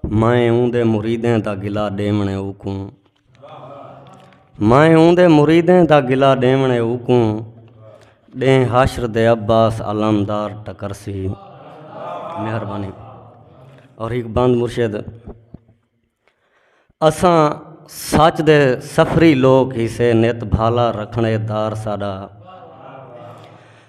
میں اوں دے مریدیں دا گلا ڈیونے اوکوں میں اوں دے مریدیں دا گلا ڈیونے اوکوں ڈیں حاشر دے عباس علمدار ٹکر سی مہربانی اور ایک بند مرشد اساں سچ دے سفری لوگ ہی سے نت بھالا رکھنے دار ساڈا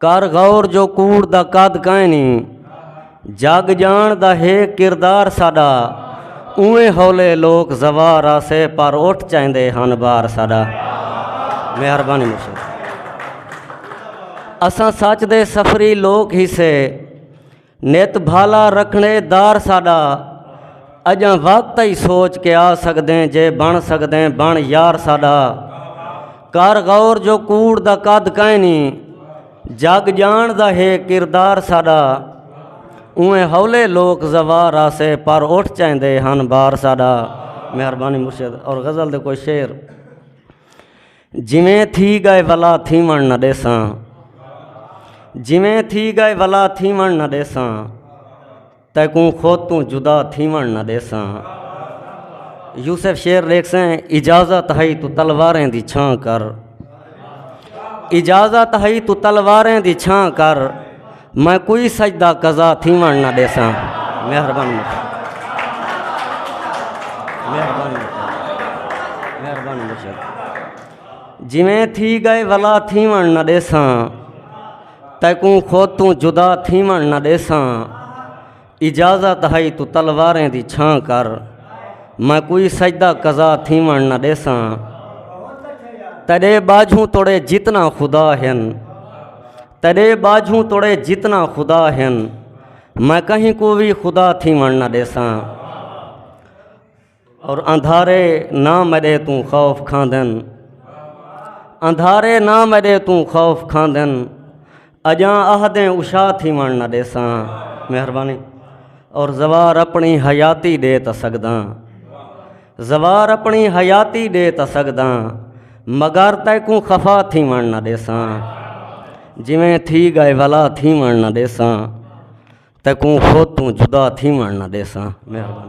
کر غور جو کوڑ دا قد کائیں نہیں جگ جان دا ہے کردار ساڈا اویں ہولے لوک زوار آسے پر اٹھ چاہندے ہن بار ساڈا مہربانی مشکل اساں سچ دے سفری لوک ہی سے نت بھالا رکھنے دار ساڈا اجاں وقت ہی سوچ کے آ سکدیں جے بن سکدیں بن یار ساڈا کر غور جو کوڑ دا قد کائیں نہیں جگ جان دا ہے کردار ساڈا اویں ہولے لوک زوار آسے پر اٹھ چاہندے ہن بار ساڈا مہربانی مرشد اور غزل دے کوئی شعر جویں تھی گئے ولا تھیوݨ نہ ݙیساں جویں تھی گئے ولا تھیوݨ نہ ݙیساں تیکوں خود توں جدا تھیوݨ نہ ݙیساں یوسف شیر لیکسیں اجازت ہئی تو تلواریں دی چھاں کر اجازت ہئی تو تلواریں دی چھاں کر میں کوئی سجدہ قضا تھیوݨ نہ ݙیساں مہربانی مہربانی مہربانی مہربانی جویں تھی گئے ولا تھیوݨ نہ ݙیساں تیکوں خود توں جدا تھیوݨ نہ ݙیساں اجازت ہئی توں تلواریں دی چھاں کر میں کوئی سجدہ قضا تھیوݨ نہ ݙیساں تیرے باجھوں توڑے جتنا خدا ہن تیرے باجھوں توڑے جتنا خدا ہن میں کہیں کو بھی خدا تھیوݨ نہ ݙیساں اور اندھارے نہ مرے توں خوف کھاندن اندھارے نہ مرے توں خوف کھاندن اجاں آہدیں اشا تھی وڑ نہ ڈیساں مہربانی اور زوار اپنی حیاتی دے تا سکداں زوار اپنی حیاتی دے تا سکداں مگر تے کو خفا تھی وڑ نہ ڈیساں جویں تھی گئے ولا تھی وڑ نہ ڈیساں تے کو خود توں جدا تھی وڑ نہ ڈیساں مہربانی